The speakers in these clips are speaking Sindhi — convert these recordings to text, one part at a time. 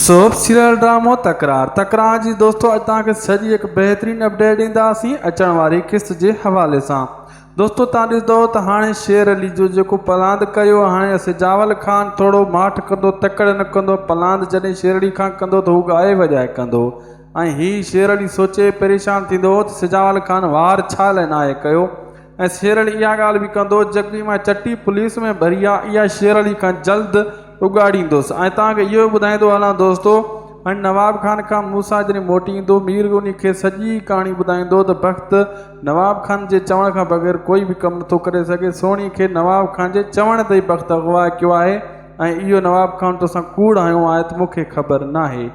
سوڀ سيريل ڊرامو تڪرار تڪرار جي دوستو اڄ توهان کي سڄي هڪ بهترين اپڊيٽ ڏينداسين اچڻ واري قسط جي حوالي سان دوستو توهان ڏسدو ته هاڻي شير علي جو جيڪو پلاند ڪيو هاڻي اسجاول خان ٿورو ماٺ ڪندو تڪڙ نه ڪندو پلاند جڏهن شير علي کان ڪندو ته هو ڳائي وڄائي ڪندو ۽ هي شير علي سوچي پريشان ٿيندو ته سجاول خان وار ڇا لاء ناهي ڪيو ۽ شير علي اها ڳالهه به ڪندو جيڪي مان چٽي پوليس ۾ ڀري آ اها شير علي کان جلد اڳاڙيندس ۽ توهان کي اهو به ٻڌائيندو هلان دوستو هن نواب خان کان موسيٰ جڏهن موٽي ايندو مير انهي کي سڄي ڪهاڻي ٻڌائيندو ته بخت نواب خان جي چوڻ کان بغير ڪوئي به ڪم نٿو ڪري سگهي سهڻي کي نواب خان جي چوڻ تي ئي بخت اغوا ڪيو آهي ۽ اهو نواب خان توسان ڪوڙ هنيو آهي ته مون کي خبر ناهي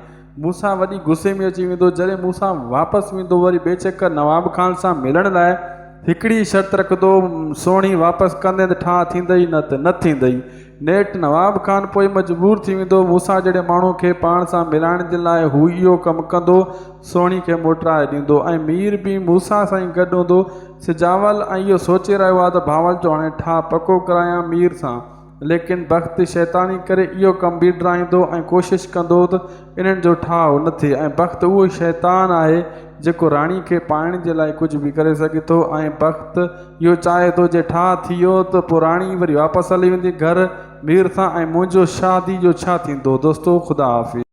مون سان وڏي غصي ۾ اچي ويندو جڏهن مون سان واپس ويندو وري بيشڪ نواب خان سان ملڻ لاء هڪڙي ئي شرط رکندو سهڻي واپس ڪندين ته ٺاهه ٿيندئي نه ته نه ٿيندئي نيٺ نواب خان پوء مجبور ٿي ويندو مون سان جهڙي ماڻهو کي پاڻ سان ملائڻ جي لاء هو اهو ڪم ڪندو سهڻي کي موٽرائي ڏيندو ۽ مير به مون سان سائين گڏ هوندو سجاول ۽ اهو سوچي رهيو آهي ته ڀانول جو هاڻي ٺاهه پڪو ڪرايان مير سان ليڪن بخت شيطاني ڪري اهو ڪم بيڊرائيندو ۽ ڪوشش ڪندو ته انهن جو ٺاهه نه ٿئي ۽ بخت اهو ئي شيطان آهي جيڪو راڻي کي پائڻ جي لاء ڪجهه به ڪري سگهي ٿو ۽ بخت اهو چاهي ٿو جي ٺاهه ٿي ويو ته پوء راڻي وري واپس هلي ويندي گهر مير سان ۽ منهنجو شاهدي جو ڇا ٿيندو دوستو خدا حافظ.